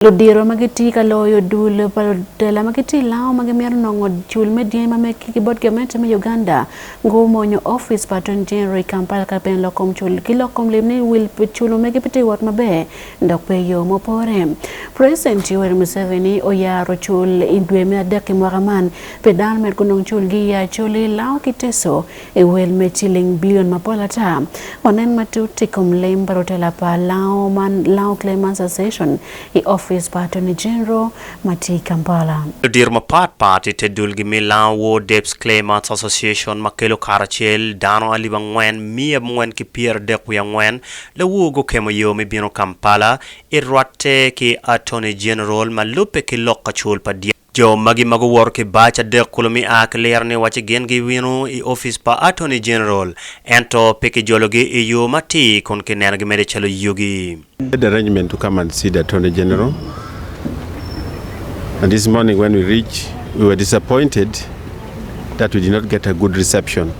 ludito ma gitye ka loyo dul pa lutela ma gitye i Lamu ma gimito nongo cul me dyangi ma megi ki bot gamente me Uganda gumonyo opic pa Attorney General i Kampala ka pien lok kom cul ki lok kom lim ni wil pi culu megi pe tye wot maber dok pe i yo ma opore. President Yoweri Museveni oyaro cul i dwe me adek i mwaka man pi dano med gunong cul gi i Acholi, Lamu ki Teso I wel me ciling bilion mapol ata, wanen matut i kom lim pa rutela pa Lango man Lango Claimants Association i opic pa Attorney General ma tye i Kampala. Ludito mapat pat i te dulgi me Lango War Debts Claimants Association ma kelo karacel dano alip angwen miya abongwen ki pyer adek wiye angwen lawur gukemo yo me bino Kampala i rwatte ki Attorney General ma lubbe ki lok kacul pa Jo magi ma guwoto ki bac adek kulu mi a ki liro ni wacci gin giwino i opic pa Attorney General ento pe kijologi i yo matir kun kinenogi mere calo yugi. Made arrangement to come and see the Attorney General and this morning when we reached we were disappointed that we did not get a good reception.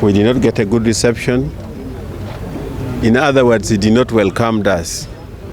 We did not get a good reception in other words he did not welcomed us.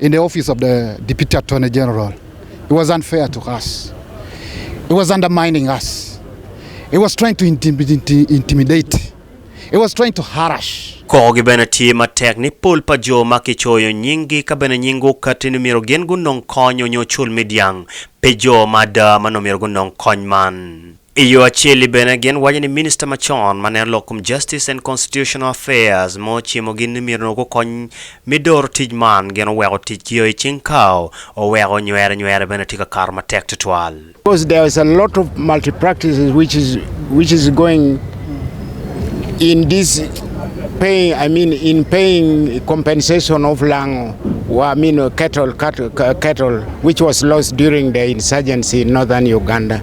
in the office of the deputy attorney general he was unfair to us he was undermining us he was trying to intimidate he was trying to harass Koko gi bene tye matek ni pol pa jo ma ki coyo nying gi ka bene nying gu kati ni myero gin gu nong kony onyo cul me dyang pe jo ma ada ma nong myero gu nong kony man. I yo acel-li bene, gin waco ni minista macon ma neno lok kom Justice and Constitutional Affairs ma ocimogi ni myero onongo gukony me doro tic man gin oweko ticgi o i cing kawo, oweko nywere nywere bene tye ka kato matek twatwal. Because there is a lot of multi practices which is which is going in this paying I mean in paying compensation of lango wa I mean cattle cattle which was lost during the insurgency in northern Uganda.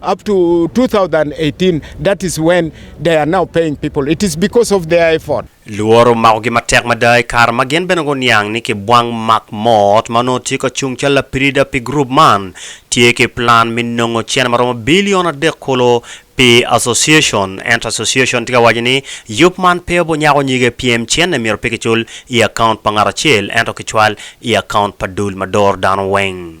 Up to 2018 that is when they are now paying people it is because of their effort. Lworo omakogi matek mada i kare ma gin bene guniang ni kibwang Mark Mott ma onongo tye ka cung calo lapirida pi gurup man tye ki plan me nongo cene ma romo bilion adek kulu pi Association ento Association tye ka waco ni yub man pe obunyako nyige pien cene myero pe kicul i akaunt pa ngat acel ento kicwal i akaunt pa dul ma doro dano weng.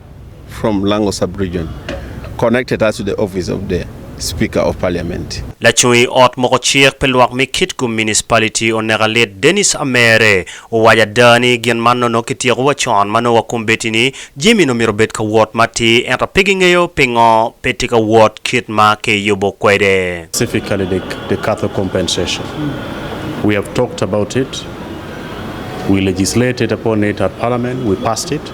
From Lango Sub-Region, connected us to the office of the Speaker of Parliament. Lacung i ot moko cik pi lwak me Kitgum Municipality oneka lit Dennis Amere owaco ada ni gin man nono kityeko wa con ma nongo wakombeddi ni jami ni omyero obed ka wot matir ento pe gingeyo pingo pe tye ka wot kit ma ki yubo kwede. Specifically the the cattle compensation we have talked about it we legislated upon it at parliament we passed it.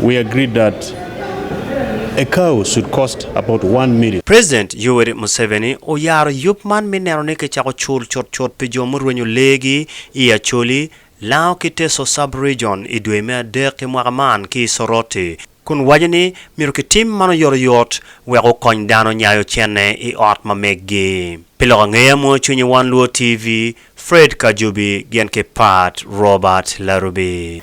We agreed that a cow should cost about one million. President Yoweri Museveni oyaro yub man me neno ni kicako cul cutcut pi jo murwenyo lee gi i Acholi, Lango ki Teso Sub-Region i dwe me adek ki mwaka man ki i Soroti, kun waco ni myero kitim man oyotoyot wek okony dano nyayo cente i ot ma meggi. Pi lok angeye mwoyo cwinyi One Luo TV, Fred Kajubi gin ki Pat Robert Larubi.